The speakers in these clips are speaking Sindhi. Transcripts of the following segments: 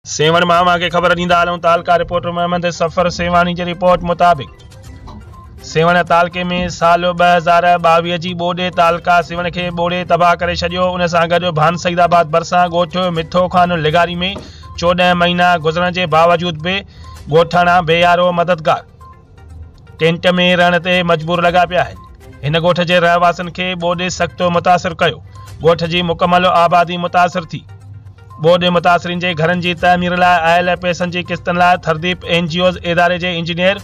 سيوهڻ مان اوهان کي خبر ڏيندا هلون تعلقه رپورٽر محمد صفر سيوهاڻي جي رپورٽ مطابق سيوهڻ تعلقي ۾ سال ٻه هزار ٻاويهه جي ٻوڏي تعلقه سيوهڻ کي ٻوڙي تباهه ڪري ڇڏيو ان سان گڏ ڀان سعيد آباد ڀرسان ڳوٺ مٺو خان لغاري ۾ چوڏهن مهينا گذرڻ جي باوجود به ڳوٺاڻا بي يارو مددگار ٽينٽ ۾ رهڻ تي مجبور لڳا پيا آهن هن ڳوٺ جي رهواسين کي ٻوڏ سختو متاثر ڪيو ڳوٺ جي مڪمل آبادي متاثر ٿي ٻوڏ متاثرين جي گهرن جي تعمير لاء آيل پئسن جي قسطن لاء ٿرديپ اين جي اوز اداري جي انجنيئر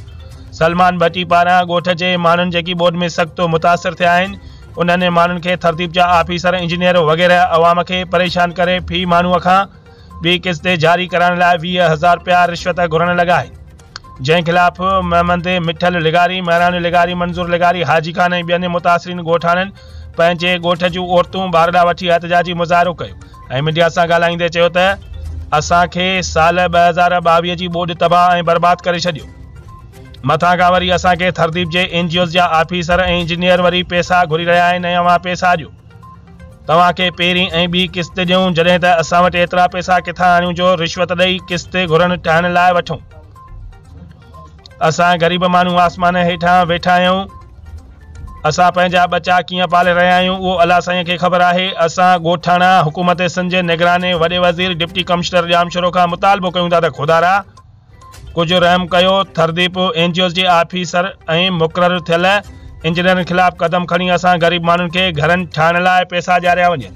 سلمان ڀٽي پاران ڳوٺ جي ماڻهن جيڪي ٻوڏ ۾ سختو متاثر ٿيا آهن انهن ماڻهن کي ٿرديپ جا آفيسر انجنيئر وغيره عوام کي پريشان ڪري في ماڻهو کان ٻي قسط جاري ڪرائڻ لاء ويهه هزار رپيا رشوت گهرڻ لڳا آهن جنهن خلاف مهمند مٺل لغاري مهراڻ لغاري منظور لغاري حاجي خان ۽ ٻين متاثرين ڳوٺاڻن پنهنجي ڳوٺ جون عورتون ٻارڙا وٺي احتجاجي مظاهرو ڪيو ۽ ميڊيا سان ڳالهائيندي چيو ته اسان کي سال ٻه هزار ٻاويهه جي ٻوڏ تباهه ۽ برباد ڪري ڇڏيو مٿان کان وري اسان کي ٿرديپ جي اين جي اوز جا آفيسر ۽ انجنيئر وري پيسا گهري رهيا آهن ۽ اوهان پيسا ڏيو توهان کي پهرين ۽ ٻي قسط ڏيون جڏهن ته اسان وٽ ايترا پئسا ڪٿان آڻيون جو رشوت ڏئي قسط گهرن ٺاهڻ لاء وٺون. اسان غريب ماڻهو آسمان هيٺان ويٺا آهيون. اسان پنهنجا ٻچا ڪيئن پالي رهيا آهيون اهو الله سائينء کي خبر آهي. اسان ڳوٺاڻا حڪومت سنڌ جي نگران ۽ وڏي وزير ڊپٽي ڪمشنر ڄامشورو کان مطالبو ڪيون ٿا ته خدارا! ڪجهه رحم ڪيو ٿرديپ اين جي اوز جي آفيسر ۽ مقرر ٿيل انجنيئرن خلاف قدم کڻي اسان غريب ماڻهن کي گهرن ٺاهڻ لاء پيسا ڏياريا وڃن.